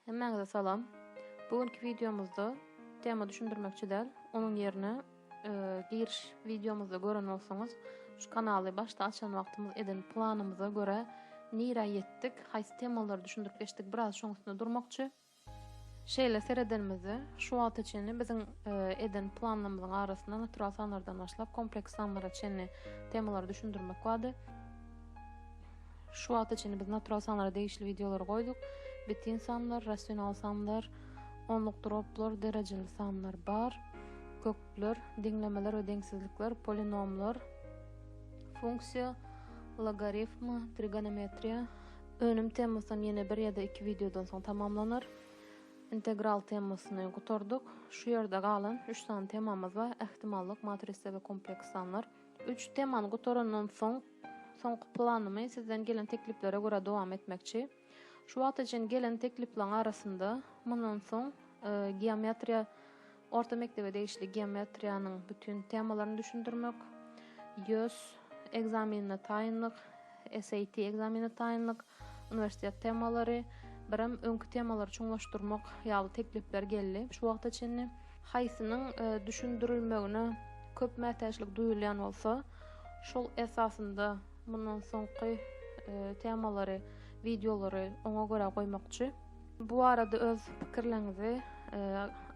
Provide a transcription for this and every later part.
Hemmäňize salam. Bu günki wideomyzda tema düşündirmekçi däl, onuň ýerine giriş wideomyzda gören bolsaňyz, şu kanaly başda açan wagtymyz eden planymyza görä nirä ýetdik, haýsy temalary düşündirip geçdik biraz şoň üstünde durmakçy. Şeýle seredenimizde şu wagta çenli biziň eden planlarymyzyň arasynda natural sanlardan başlap kompleks sanlara çenli temalary düşündirmek bardy. Şu wagta çenli biz natural sanlara degişli wideolary goýduk. Bitin sanlar, rasional sanlar, onluk droplar, derejeli sanlar bar. Kökler, deňlemeler we deňsizlikler, polinomlar, funksiýa, logarifm, trigonometriýa. Önüm temasyndan ýene bir ýa-da iki wideodan soň tamamlanar. Integral temasyny gutardyk. Şu ýerde galan üç sany temamyz bar. Ähtimallyk, matrisa we kompleks sanlar. Üç temany gutarandan soň, soňky planymy sizden gelen tekliplere görä dowam etmekçi. Şu wagta çenli gelen tekliplaň arasynda mundan soň geometriýa orta mekdebe degişli geometriýanyň bütin temalaryny düşündirmek, ýös ekzamenine taýynlyk, SAT ekzameni taýynlyk, uniwersitet temalary, birem öňki temalary çuňlaşdyrmak ýaly teklipler geldi şu wagta çenli. Haýsynyň düşündirilmegine köp mätäçlik duýulýan bolsa, şol esasynda mundan soňky temalary, wideolary oňa görä goýmakçy. Bu barada öz pikirleriňizi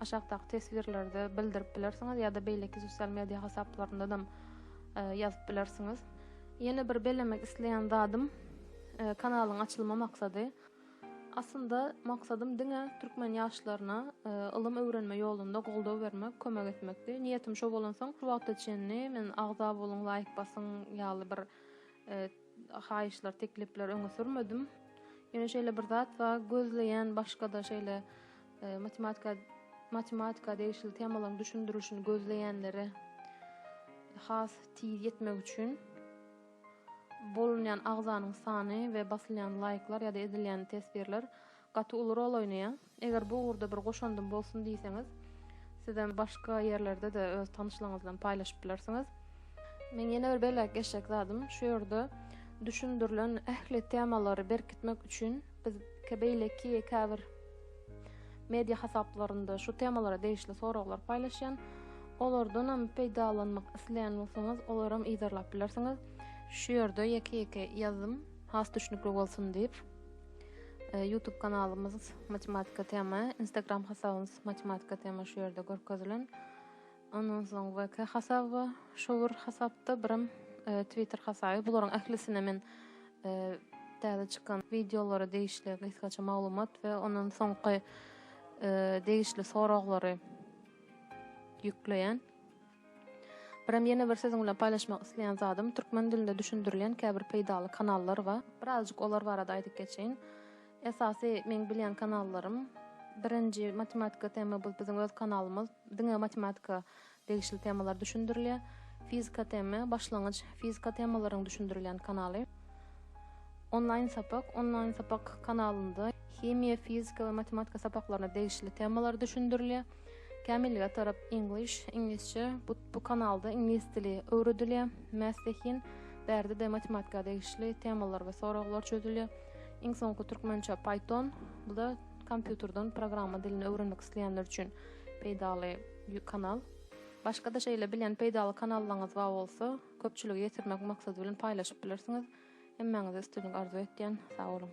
aşakdaky teswirlerde bildirip bilersiňiz ýa-da beýleki sosial media hasaplaryndanam ýazyp bilersiňiz. Ýene bir bellemek isleýän zadym kanalyň açylma maksady. Aslynda maksadym diňe türkmen ýaşlaryna ylym öwrenme ýolunda goldaw bermek, kömek etmekdi. Niýetim şo bolansoň şu wagta çenli men agza boluň, laýk basyň ýaly bir haýyşlar, teklipler öňe sürmedim. Ýöne şeýle bir zat bar, gözleýän başga-da şeýle Matematika matematika degişli temalaryň düşündirilişini gözleýänlere has tiz ýetmek üçin bolunýan agzanyň sany we basylýan laýklar ýa-da edilýän teswirler gaty uly rol oýnaýar. Eger bu ugurda bir goşandym bolsun diýseňiz, sizem başga ýerlerde-de öz tanyşlaryňyz bilen paýlaşyp bilersiňiz. Men ýene bir belläp geçjek zadym, şu ýerde düşündirilen ähli temalary berkitmek üçin Biz beýleki käbir media hasaplarynda şu temalara degişli soraglar paýlaşýan. Olardanam peýdalanmak isleýän bolsaňyz, olaram yzarlap bilersiňiz. Şu ýerde ýeke-ýeke ýazdym, has düşnükli bolsun diýip. E, YouTube kanalymyz Matematika tema, Instagram hasabymyz Matematika tema şu ýerde görkezilen. Ondan soň VK hasaby bar. Şo bir hasapda birem Twitter hasaby. Bularyň ählisine men täze çykan wideolara degişli gysgaça maglumat we ondan soňky degişli soraglary ýükleýän. Birem ýene bir siziň bilen paýlaşmak isleýän zadym, türkmen dilinde düşündirilýän käbir peýdaly kanallar bar. Birazajyk olar barada aýdyp geçeýin. Esasy meň bilýän kanallarym, birinji matematika tema bu biziň öz kanalymyz. Diňe matematika degişli temalar düşündirilýär. Fizika TM, başlangyç fizika temalaryň düşündirilýän kanaly. Onlaýn sapak, onlaýn sapak kanalynda himiýa, fizika we matematika sapaklaryna degişli temalar düşündirilýär. Kämillige tarap English, iňlisçe, bu, bu kanalda iňlis dili öwredilýär. Math Zehin, bärde-de matematika degişli temalar we soraglar çözülýär. Iň soňky türkmençe Python, bu-da Kompýuterden programma dilini öwrenmek isleýänler üçin peýdaly kanal. Başga-da şeýle bilýän peýdaly kanallaryňyz bar bolsa, köpçülige ýetirmek maksady bilen paýlaşyp bilersiňiz. Hemmäňize üstünlik arzuw etýän. Sag boluň!